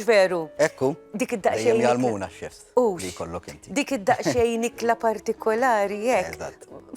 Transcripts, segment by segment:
veru. Ekku. Dik id-daqxejn. Dejjem jalmuna x-chefs. Li kollok inti. Dik id-daqxejn ikla partikolari jek.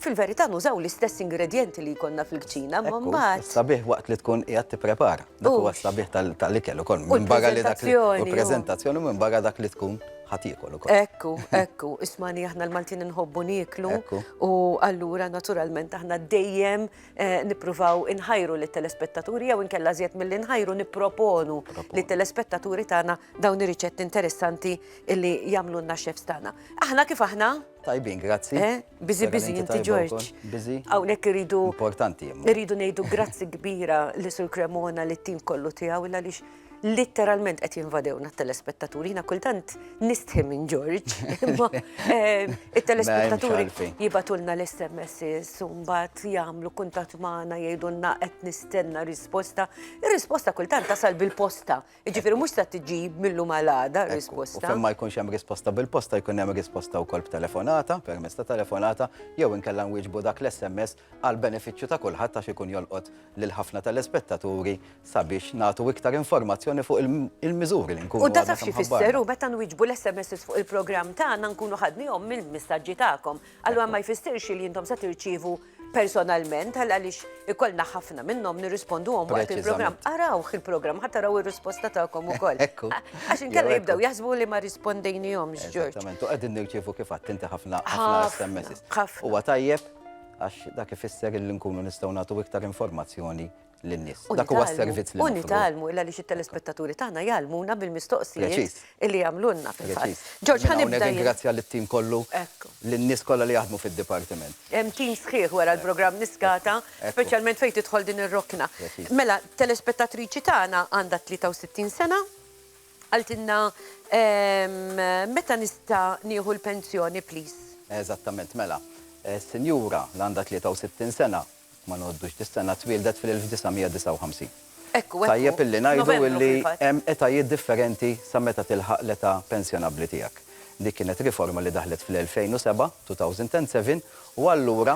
Fil-verità nużaw l-istess ingredienti li jkollna fil-kċina, ma mbagħad. Sabiħ waqt li tkun qiegħed tipprepara. Dak huwa sabiħ tal-ikel ukoll. Minn barra li dak li prezentazzjoni minn barra dak li tkun ħatikol ukoll. Ekku, ekku, ismani aħna l-Maltin nħobbu nieklu u allura naturalment aħna dejjem Eh, nippruvaw inħajru li telespettaturi jew inkella żjed milli nħajru nipproponu li telespettaturi tagħna dawn ir-riċetti interessanti li jagħmlu lna chefs tagħna. Aħna kif aħna? Tajbin, grazzi. Eh, bizi bizi inti George. Bizi. Hawnhekk iridu importanti. Iridu ngħidu grazzi kbira li sur Cremona li tim kollu tiegħu illa lix litteralment qed jinvadewna t-telespettaturi. Jiena kultant nistħi minn George, imma eh, it-telespettaturi jibatulna l-SMS, umbat jagħmlu kuntat magħna jgħidulna qed nistenna risposta. Ir-risposta kultant tasal bil-posta. Jiġifieri mhux ta' tiġi millu malada risposta. Fejn ma jkunx hemm risposta bil-posta jkun hemm risposta wkoll b'telefonata, permezz ta' telefonata, jew inkella nwieġbu dak l-SMS għall-benefiċċju ta' kulħadd għax ikun jolqot lil ħafna telespettaturi sabiex nagħtu iktar informazzjoni fuq il-miżuri li nkunu għadna kemm ħabbarna. U da taf x'ifisser hu meta nwieġbu l-SMSs fuq il-programm tagħna nkunu ħadnihom mill-misaġġi tagħkom. Allura ma jfissirx li intom se tirċievu personalment għal għaliex ikollna ħafna minnhom nirrisponduhom waqt il-programm. Arawh il-programm ħadd taraw ir-risposta tagħkom ukoll. Ekku. Għax inkella jibdew jaħsbu li ma rispondejnihomx, Ġorġ. Eżattament, u qegħdin nirċievu kif għadt inti ħafna SMS. Ħafna. Huwa tajjeb għax dak ifisser li nkunu nistgħu nagħtu iktar informazzjoni lin-nies. Dak huwa s-servizz li nagħmlu. U nitgħallmu, illa li xit-telespettaturi tagħna jgħallmuna bil-mistoqsijiet li jagħmlulna fil-fatt. Ġorġ, ħa nibda. Nirringrazzja lit-tim kollu, lin-nies kollha li jaħdmu fid-dipartiment. Hemm tim sħiħ wara l-programm Niskata, speċjalment fejn tidħol din ir-rokna. Mela, telespettatriċi tagħna għandha 63 sena. Qaltilna meta nista' nieħu l-pensjoni please? Eżattament mela. Sinjura li għandha 63 sena, ma ngħoddux dis-sena, twieldet fil-1959. Ekku, ekku. Tajjeb illi ngħidu illi hemm etajiet differenti sa meta tilħaq l-età pensjonabbli tiegħek. Dik kienet riforma li daħlet fl-2007, 2007, u allura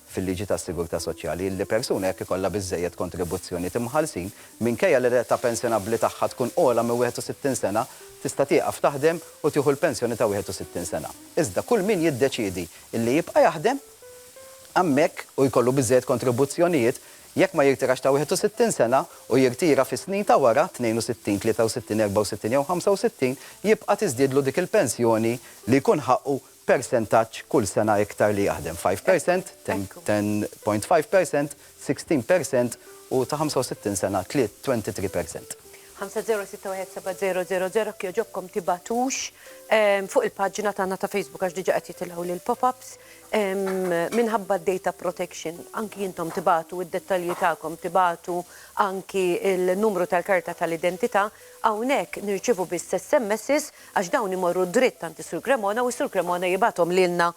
fil-liġi tas-sigurtà soċjali li persuna jekk ikollha biżżejjed kontribuzzjonijiet imħallsin, minkejja li l-età pensjonabbli tagħha tkun ogħla minn 61 sena, tista' tieqaf taħdem u tieħu l-pensjoni ta' 61 sena. Iżda kull min jiddeċiedi li jibqa' jaħdem hemmhekk u jkollu biżżejjed kontribuzzjonijiet, jekk ma jirtirax ta' 61 sena u jirtira fis-snin ta' wara, 62, 63, 64 jew 65, jibqa' tiżdiedlu dik il-pensjoni li jkun ħaqqu persentaġġ kull sena iktar li jaħdem, five percent, ten ten point five percent, sixteen percent u ta' ħamsa u sittin sena tliet twenty three percent. Ħamsa żero sitta wieħed seba' żero żero żero jekk jogħġobkom tibagħtux ehm, fuq il-paġna tagħna ta' Facebook għax diġà qed jitilgħu lil pop-ups ehm, minħabba data protection anki intom tibatu id-dettalji tagħkom tibatu anki il-numru tal-karta tal-identità Hawnhekk nirċievu biss SMSs għax dawn imorru dritt għand is-Sur Cremona u s-Sur Cremona jibgħathom lilna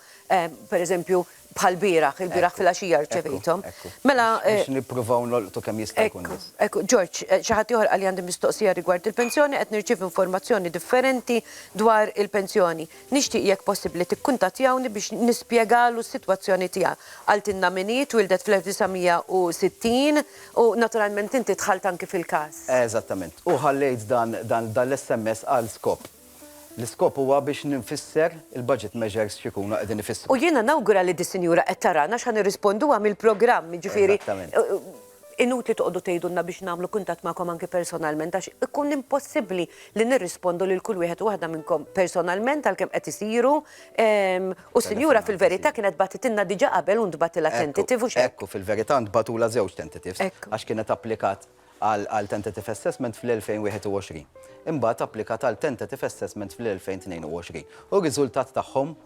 pereżempju bħal bieraħ, il-bieraħ filgħaxija rċevejthom. Mela. Biex nippruvaw nolqtu kemm jista' jkun biss. Ekku, George, xi ħadd ieħor qalli għandi mistoqsija rigward il-pensjoni, qed nirċievi informazzjoni differenti dwar il-pensjoni. Nixtieq jekk possibbli tikkuntattjawni biex nispjegalu s-sitwazzjoni tiegħi. Qaltilna min hi, twieldet fl-1960 u naturalment inti dħalt anki fil-każ. Eżattament. U ħallejt dan dan l-SMS għal skop. L-iskop huwa biex nfisser il-budget measures x'ikunu qegħdin ifissru. U jiena nawgura li dis-sinjura qed tarana għax ħa nirrisponduha mill-programm, jiġifieri. Eżattament. Inutli toqgħodu tgħidulna biex nagħmlu kuntatt magħkom anki personalment għax ikun impossibbli li nirrispondu lil kull wieħed u waħda minnkom personalment għalkemm qed isiru u s-sinjura fil-verità kienet bagħtitilna diġà qabel u ntbagħtilha tentative hux hekk? Ekku, fil-verità ntbagħtulha żewġ tentatives għax kienet applikat għal tentative assessment fl-2021. Imbagħad applikat għal tentative assessment fl-2022 u r-riżultat tagħhom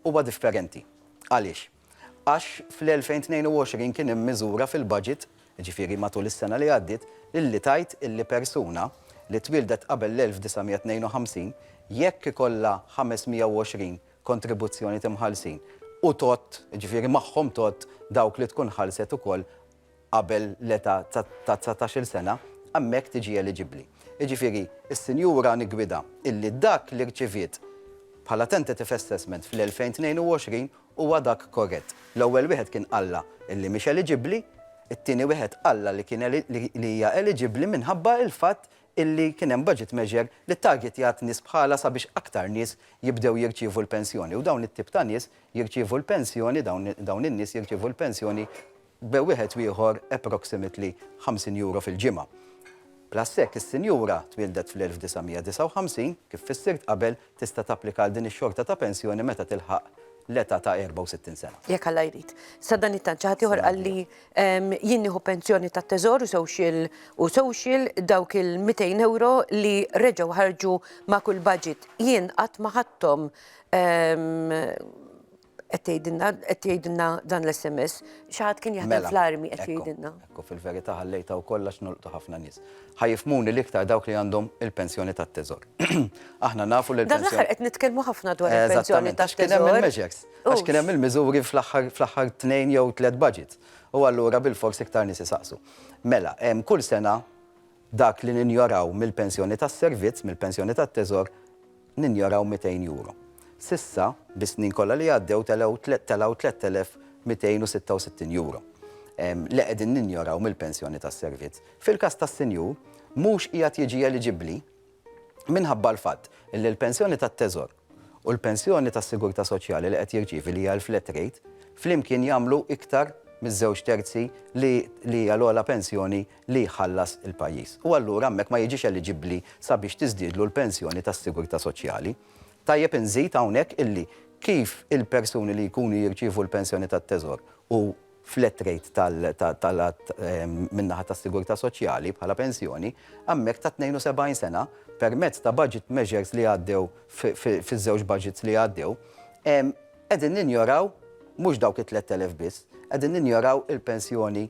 huwa differenti. Għaliex? għax fl-2022 kien hemm miżura fil-budget, jiġifieri matul is-sena li għaddiet, illi tgħid illi persuna li twieldet qabel l-1952, jekk ikollha 520 kontribuzzjoni timħallsin u tgħodd, jiġifieri magħhom tgħodd dawk li tkun ħallset ukoll, qabel l-età ta' dsatax-il sena, hemmhekk tiġi eliġibbli. Jiġifieri, is-sinjura niggwidha illi dak li rċiviet bħala tentative assessment fl-2022 huwa dak korrett. L-ewwel wieħed kien qallha illi mhix eliġibbli, it-tieni wieħed qallha li kien li hija eliġibbli minħabba l-fatt illi kien hemm budget measure li ttargetjat nies bħalha sabiex aktar nies jibdew jirċievu l-pensjoni u dawn it-tip ta' nies jirċievu l-pensjoni dawn in-nies jirċievu l-pensjoni be wieħed u ieħor approximately €50 fil-ġimgħa. Plus hekk is-sinjura twieldet fl-1959, kif fissirt qabel, tista' tapplika għal din ix-xorta ta' pensjoni meta tilħaq l-età ta' 64 sena. Jekk Alla jrid. Sadanittant xi ħadd ieħor qal li jien nieħu pensjoni tat-Teżor u social u social dawk il-€200 li reġgħu ħarġu ma' kull budget. Jien qatt ma ħadthom Qed tgħidilna, qed jgħidilna dan l-SMS, xi ħadd kien jaħdem mela, fl-armi qed jgħidilna. Ekku fil-verità ħallejta u kollox nolqtu ħafna nies. Ħajifmuni l-iktar dawk li għandhom il-pensjoni tat-teżor. Aħna nafu li l-pensjoni. Dan qed nitkellmu ħafna dwar il-pensjoni tat-teżor. Kien hemm il-meġex, għax kien hemm il-miżuri fl-aħħar tnejn jew tliet budgets. U allura bil-fors iktar nies isaqsu. Mela, kull sena Dak li ninjoraw mill-pensjoni tas-servizz, mill-pensjoni tat-teżor, ninjoraw 200 euro. S'issa, bis-snin kollha li għaddew, telgħu telgħu 3,266 euro li qegħdin ninjoraw mill-pensjoni tas-servizz. Fil-każ tas-sinjur, mhux qiegħed jiġi eliġibbli, minħabba l-fatt li l-pensjoni tat-Teżor u l-pensjoni tas-Sigurtà Soċjali li qed jirċievi li hija l-flat rate flimkien jagħmlu iktar miż-żewġ terzi li li hija l-ogħla pensjoni li jħallas il-pajjiż. U allura hemmhekk ma jiġix eliġibbli sabiex tiżdiedlu l-pensjoni tas-Sigurtà Soċjali. Tajjeb inżid hawnhekk illi kif il-persuni li jkunu jirċievu l-pensjoni tat-Teżor u flat rate tal-għadd min-naħa tas-sigurtà soċjali bħala pensjoni, għammek ta' 72 sena, permezz ta' budget measures li għaddew fiż-żewġ budgets li għaddew, qegħdin ninjoraw mhux dawk it-3,000 biss, qegħdin ninjoraw il-pensjoni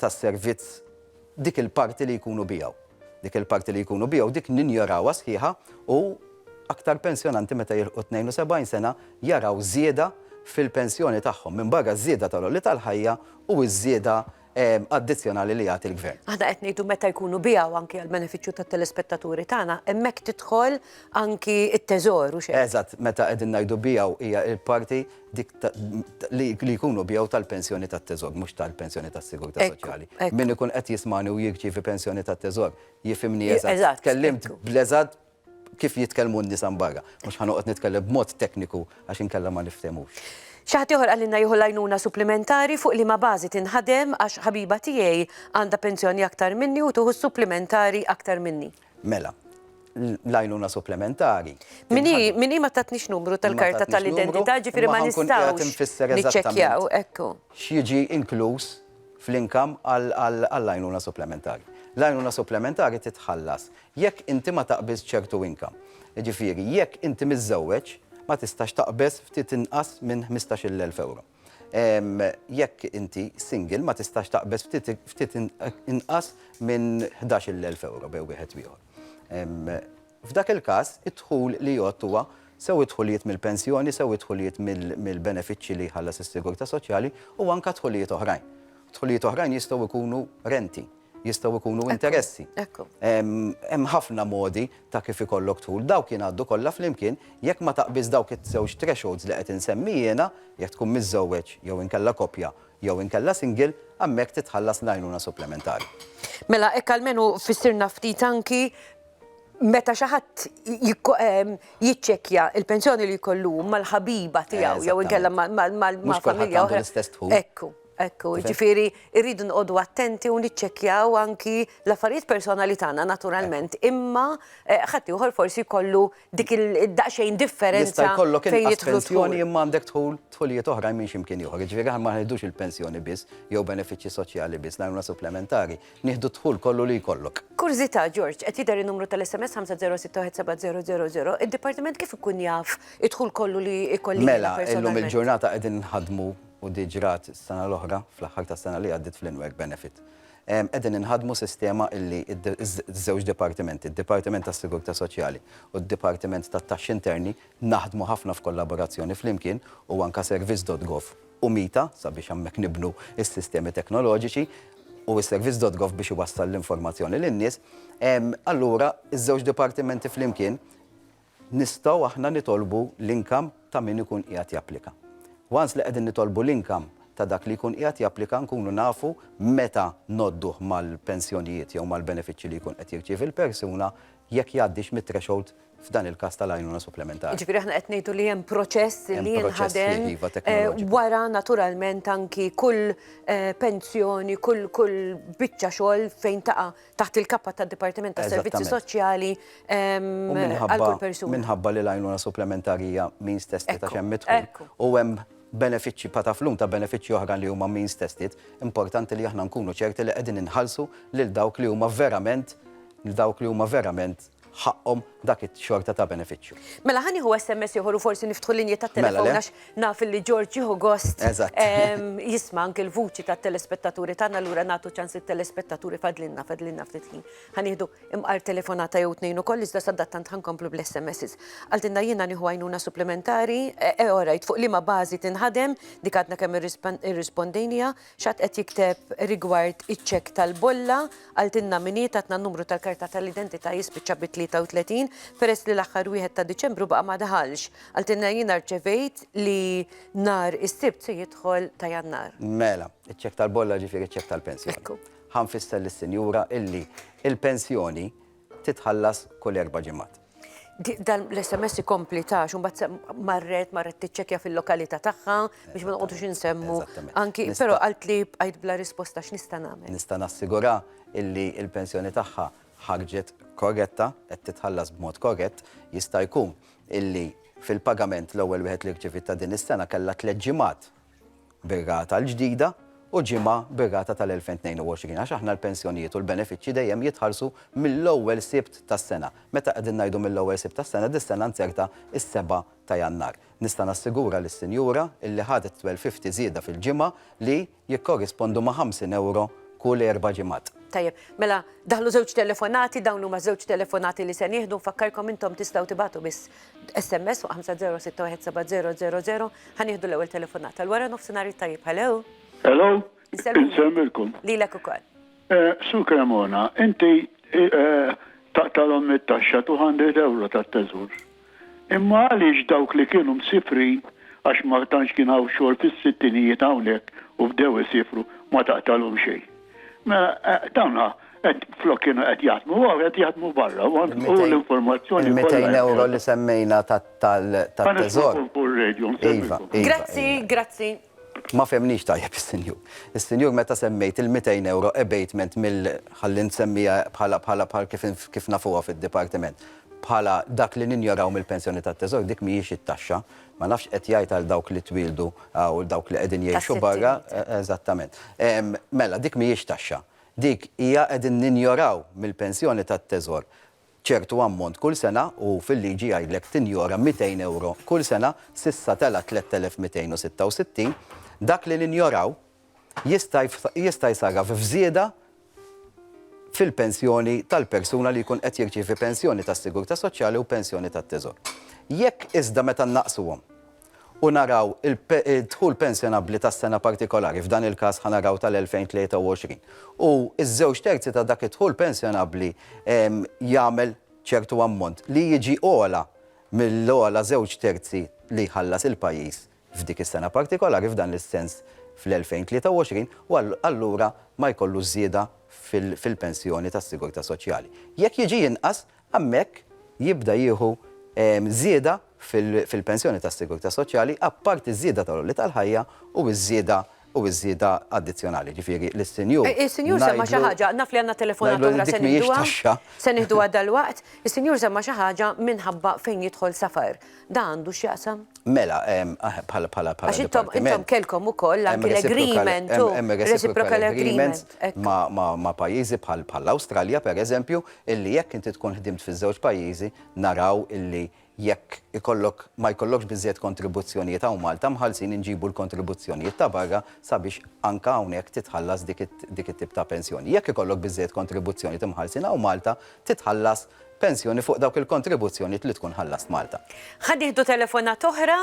tas-servizz. dik il-parti li jkunu biegħu. Dik il-parti li jkunu biegħu dik ninjorawha sħiħa u aktar pensjonanti meta jilħqu t-tnejn u sebgħin sena jaraw żieda fil-pensjoni tagħhom, minbarra ż-żieda tal-għoli tal-ħajja u ż-żieda addizzjonali li jagħti l-Gvern. Aħna qed ngħidu meta jkunu biegħu anki għall-benefiċċju tat-telespettaturi tagħna, hemmhekk tidħol anki t-Teżor u xejn. Eżatt, meta qegħdin ngħidu biegħu hija l-parti dik li jkunu bjew tal-pensjoni tat-teżog, mhux tal-pensjoni tas-sigurtà soċjali. Min ikun qed jismani u jirċievi pensjoni tat-teżog, jifimni eżatt. Tkellimt bl-eżatt kif jitkellmu n-nisa barra. Mhux ħanoqgħod nitkellem b'mod tekniku għax inkella ma niftemux. Xi ħadd ieħor qalilna jieħu l-għajnuna supplimentari fuq liema bażi tinħadem għax ħabiba tiegħi għandha pensjoni aktar minni u tieħu s-supplimentari aktar minni. Mela, l-għajnuna supplementari. Min hi, min hi ma tatnix numru tal-karta tal-identità, ġifieri ma nistgħux niċċekkjaw, ekku. X'jiġi inkluż fl-income għall-għajnuna supplementari. L-għajnuna supplementari titħallas jekk inti ma taqbiżx ċertu income. Jiġifieri jekk inti miżżewweġ ma tistax taqbeż ftit inqas minn ħmistax-il elf ewro. Jekk inti single ma tistax taqbeż ftit inqas minn ħdax-il elf ewro bejn wieħed u ieħor. F'dak il-każ, id-dħul li jgħodd huwa sew id-dħulijiet mill-pensjoni, sew id-dħulijiet mill-benefiċċji li jħallas is-sigurtà soċjali u anke dħulijiet oħrajn. Dħulijiet oħrajn jistgħu jkunu renti. jistgħu jkunu interessi. Hemm ħafna modi ta' kif ikollok tħul, dawk jingħaddu kollha flimkien, jekk ma taqbiż dawk iż-żewġ thresholds li qed insemmi jiena, jekk tkun miżżewweġ jew inkella koppja jew inkella single, hemmhekk titħallas l-għajnuna supplementari. Mela hekk almenu fissirna ftit anki meta xi ħadd jiċċekkja l-pensjoni li jkollu hu mal-ħabiba tiegħu jew inkella ma' familja oħra. Mhux kulħadd għandu l-istess dħul. Ekku. Ekku, jiġifieri rridu noqogħdu attenti u niċċekkjaw anki l-affarijiet personali tagħna naturalment, imma ħaddieħor forsi jkollu dik il-daqsxejn differenza fejn jidħlu. Jista' jkollok inqas pensjoni imma għandek dħul, dħulijiet oħrajn minn xi mkien ieħor. Jiġifieri aħna ma nieħdux il-pensjoni biss jew benefiċċji soċjali biss, l-għajnuna supplementari, nieħdu d-dħul kollu li jkollok. Kurżità, George, qed jidher in-numru tal-SMS 50617000, id-dipartiment kif ikun jaf id-dħul kollu li jkolli jiena personalment? Mela, illum il-ġurnata qegħdin inħaddmu, u di ġrat s-sena l-oħra, fl-aħħar tas-sena li għaddiet fl-in-work benefit. Qegħdin inħaddmu sistema illi ż-żewġ dipartimenti, d-Dipartiment tas-Sigurtà Soċjali u d-Dipartiment tat-Taxxi Interni, naħdmu ħafna f'kollaborazzjoni flimkien u anke Servizz dot Gov u MITA sabiex hemmhekk nibnu s-sistemi teknoloġiċi u s-Servizz dot Gov biex iwassal l-informazzjoni lin-nies. Allura, iż-żewġ dipartimenti flimkien, Nistgħu aħna nitolbu l-income ta' min ikun qiegħed japplika. Once li qegħdin nitolbu l-income ta' dak li jkun qiegħed japplika nkunu nafu meta ngħodduh mal-pensjonijiet jew mal-benefiċċji li jkun qed jirċievi l-persuna jekk jgħaddix mit-threshold f'dan il-każ tal-għajnuna supplementari. Jiġifieri aħna qed ngħidu li hemm proċess li jinħadem. Hemm proċess fih, iva, teknoloġiku. Wara naturalment anki kull pensjoni, kull biċċa xogħol fejn taqa' taħt il-kappa tad-Dipartiment tas-Servizzi Soċjali għal kull persuna. Minħabba li l-għajnuna supplementari hija means tested għax hemm idħul u hemm benefiċċji pa' taflum ta' benefiċċji oħra li huma means tested, importanti li aħna nkunu ċerti li qegħdin inħallsu lil dawk li huma verament dawk li huma verament ħaqqhom dak ix-xorta ta' benefiċċju. Mela ħa nieħu SMS ieħor u forsi niftħu l-linji tat-telefon għax naf li George jieħu gost jisma' anke l-vuċi tat-telespettaturi tagħna allura nagħtu ċans lit-telespettaturi fadlilna fadlilna ftit ħin. Ħa nieħdu imqar telefonata jew tnejn ukoll iżda sadattant ħa nkomplu bl-SMSs. Qaltilna jiena nieħu għajnuna supplementari, orajt fuq liema bażi tinħadem dik għadna kemm irrispondejniha, X'għad qed jikteb rigward iċ-ċekk tal-bolla, qaltilna min hi, tatna n-numru tal-karta tal-identità jispiċċa bi 33, peress li l-aħħar wieħed ta' Diċembru baqa' ma daħalx. Qaltilna jiena rċevejt li nhar is-Sibt se jidħol ta' Jannar. Mela, iċ-ċekk tal-bolla ġifieri ċ-ċekk tal-pensjoni. Ħa nfisser lis-Sinjura illi l-pensjoni, titħallas kull erba' ġimgħat. Dan l-SMS ikompli ta' xumbat marret, marret tiċċekja fil-lokalita tagħha biex ma noqgħodux insemmu. Anki, però għalt li bqajt bla risposta x'nista' nagħmel. Nista' nassigura illi il-pensjoni tagħha ħarġet korretta, qed titħallas b'mod korrett, jista' jkun illi fil-pagament l-ewwel wieħed li rċiviet ta' din is-sena kellha tliet ġimgħat bir-rata l-ġdida u ġimgħa bir-rata tal-2022 għax aħna l-pensjonijiet u l-benefiċċji dejjem jitħallsu mill-ewwel Sibt tas-sena. Meta qegħdin ngħidu mill-ewwel Sibt tas-sena, dis-sena nzertha s-seba' ta' Jannar. Nista' nassigura lis-sinjura illi ħadet 12.50 żieda fil-ġimgħa li jikkorrispondu ma' 50 ewro kull erba' ġimgħat. Tajjeb. Mela, daħlu żewġ telefonati, dawn huma ż-żewġ telefonati li se nieħdu. Nfakkarkom intom tistgħu tibagħtu biss SMS fuq 5061700 ħa nieħdu l-ewwel telefonata. L-wara nofsinhar it-tajjeb hello. Hello. Insemmilkom. Lilek ukoll. Eh, Sur Cremona, inti eh, eh, taqtalhom mit-taxxa 200 euro tat-teżur. Imma għaliex dawk li kienu msifrin għax ma tantx kien hawn xogħol fis-sittinijiet hawnhekk u bdew isifru ma taqtalhom xejn. Tawna, flok kienu qed jaħdmu, għaw qed jaħdmu barra, u l-informazzjoni. 200 euro li semmejna tal-teżor. Iva, iva. Grazzi, grazzi. Ma femnix tajjeb il-senjur. Il-senjur meta semmejt il-200 euro abatement mill-ħallin semmija bħala bħala bħal kif nafuha fil-dipartiment. Bħala dak li ninjoraw mill-pensjoni tat-teżor, dik mhijiex it-taxxa. Ma nafx qed jgħid għal dawk li twieldu u dawk li qegħdin jgħixu barra. Eżattament. Mela, dik mhijiex taxxa. Dik hija qegħdin ninjoraw mill-pensjoni tat-Teżor ċertu ammont kull sena u fil-liġi jgħidlek tinjora 200 ewro kull sena, s'issa tela' 3,266. Dak li ninjoraw, jista' jsarraf f'żieda fil-pensjoni tal-persuna li jkun qed jirċievi pensjoni tas-sigurtà soċjali u pensjoni tat-Teżor. Jekk iżda meta nnaqsuhom u naraw id-dħul pensjonabbli tas-sena partikolari, f'dan il-każ ħa naraw tal-2023, u ż-żewġ terzi ta' dak id-dħul pensjonabbli jagħmel ċertu ammont li jiġi ogħla mill-ogħla żewġ terzi li jħallas il-pajjiż, f'dik is-sena partikolari f'dan is-sens fl-2023 u allura ma jkollux żieda fil-pensjoni tas-sigurtà soċjali. Jekk jiġi inqas, hemmhekk jibda jieħu żieda fil-pensjoni tas-sigurtà soċjali apparti ż-żieda tal-għoli tal-ħajja u ż-żieda u ż-żieda addizzjonali, jiġifieri li s-Sinjur ngħidlu. Is-Sinjur semma xi ħaġa, naf li għandna telefonata oħra se nieħduha, se nieħduha dalwaqt, is-Sinjur semma xi ħaġa minħabba fejn jidħol safar. Dan għandu x'jaqsam? Mela, bħala, bħala, bħala. Għax intom, intom kellkom ukoll anki l-agreement, reciprocal agreement, ma' pajjiżi bħall-Awstralja, pereżempju, illi jekk inti tkun ħdimt fiż-żewġ pajjiżi, naraw illi Jekk ikollok, ma jkollokx biżżejjed kontribuzzjonijiet hawn Malta mħallsin inġibu l-kontribuzzjonijiet ta' barra sabiex anke hawnhekk titħallas dik it-tip ta' pensjoni. Jekk ikollok biżżejjed kontribuzzjonijiet imħallsin hawn Malta titħallas pensjoni fuq dawk il-kontribuzzjonijiet li tkun ħallast Malta. Ħa nieħdu telefonata oħra,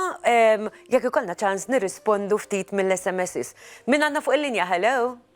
jekk ikollna ċans nirrispondu ftit mill-SMSs. Min għandna fuq il-linja, hello?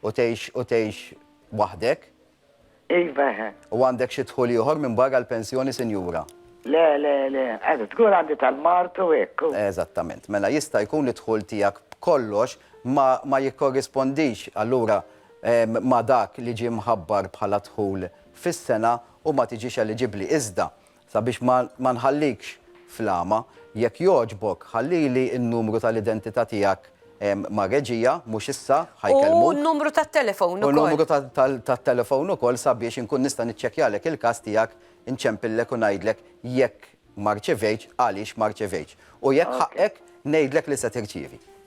U tgħix u tgħix waħdek? Iva. U għandek xi dħul ieħor minn barra l-pensjoni sinjura? Le, le, le. Għandi dħul għandi tal-mard u hekk. Eżattament. Mela jista' jkun li d-dħul tiegħek b'kollox ma ma jikkorrispondix allura ma' dak li ġie mħabbar bħala dħul fis-sena u ma tiġix eliġibbli. Iżda, Sabiex ma nħallikx fl-għama, jekk jogħġbok ħallili n-numru tal-identità tiegħek mar-reġija, mhux issa, ħa jkellmuk. U numru tat-telefown ukoll. U numru tat-telefown ukoll sabiex inkun nista' niċċekkjalek il-każ tiegħek, inċempillek u ngħidlek jekk ma rċevejtx, għaliex ma rċevejtx. U jekk ħaqqek, ngħidlek li se tirċievi.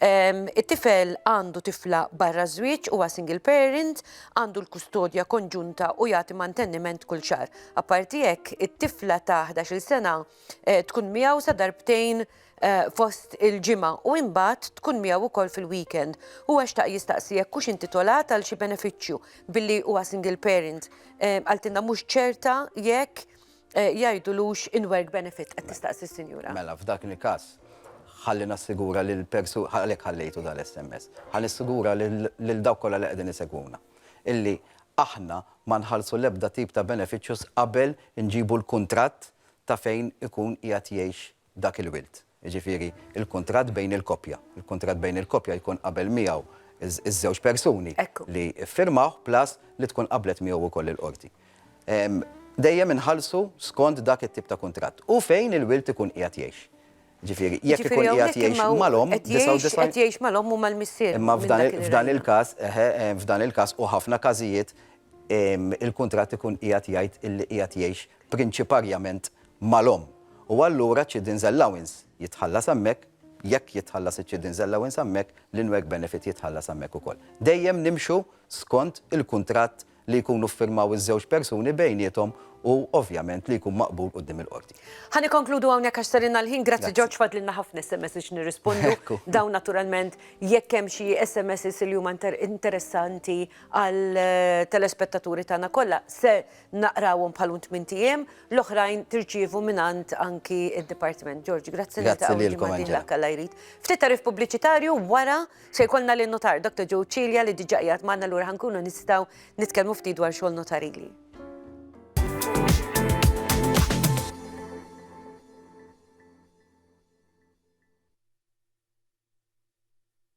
It-tifel għandu tifla barra ż-żwieġ, huwa single parent, għandu l-kustodja konġunta u jagħti mantenniment kull xahar. Apparti hekk, it-tifla ta' 11-il sena eh, tkun miegħu sa darbtejn eh, fost il-ġimgħa u imbagħad tkun miegħu wkoll fil-weekend. Huwa xtaq jistaqsi jekk hux intitolat għal xi benefiċċju billi huwa single parent. Eh, Għaltinna mhux ċerta jekk jgħidulux in-work benefit, qed tistaqsi s-sinjura. Mela f'dak il-każ, ħalli nassigura lil persu-, għalhekk ħallejtu dan l-SMS, ħa nissigura lil dawk kollha li qegħdin isegwuna illi aħna ma nħallsu l-ebda tip ta' benefiċċju qabel inġibu l-kuntratt ta' fejn ikun qiegħed jgħix dak il-wirt, jiġifieri l-kuntratt bejn il-koppja. Il-kuntratt bejn il-koppja jkun qabel miegħu ż-żewġ persuni li ffirmawh plus li tkun qablet miegħu wkoll il-qorti. Dejjem inħallsu skont dak it-tip ta' kuntratt u fejn il-wirt ikun qiegħed jgħix. Jiġifieri jekk ikun qiegħed jgħix mal-omm, 99 Qed jgħix mal-omm u mal-missier. Imma f'dan il-każ, eħe, f'dan il-każ u ħafna każijiet, il-kuntratt ikun qiegħed jgħid li qiegħed jgħix prinċiparjament mal-omm, u allura ċ-chidden's allowance jitħallas hemmhekk, jekk jitħallas iċ-chidden's allowance hemmhekk, l-in-work benefit jitħallas hemmhekk ukoll. Dejjem nimxu skont il-kuntratt li jkunu ffirmaw iż-żewġ persuni bejniethom u ovvjament li jkun maqbul quddiem il-qorti. Ħa nikkonkludu hawnhekk għax sarilna l-ħin. Grazzi George, fadlilna ħafna SMS's x'nirrispondu. Dawn naturalment jekk hemm xi SMS's li huma interessanti għall-telespettaturi tagħna kollha se naqrawhom bħalhom tmint ijiem, l-oħrajn tirċievu mingħand anki d-Dipartiment. George, grazzi li Grazzi taqgħu lilkom, ġimgħa Angela. dieħla kalla jrid. Ftit tarif pubbliċitarju wara se jkollna lin notar Dr. Joe Cilia li diġà qiegħed magħna lura ħankunu nistgħu nitkellmu ftit dwar xogħol notarili.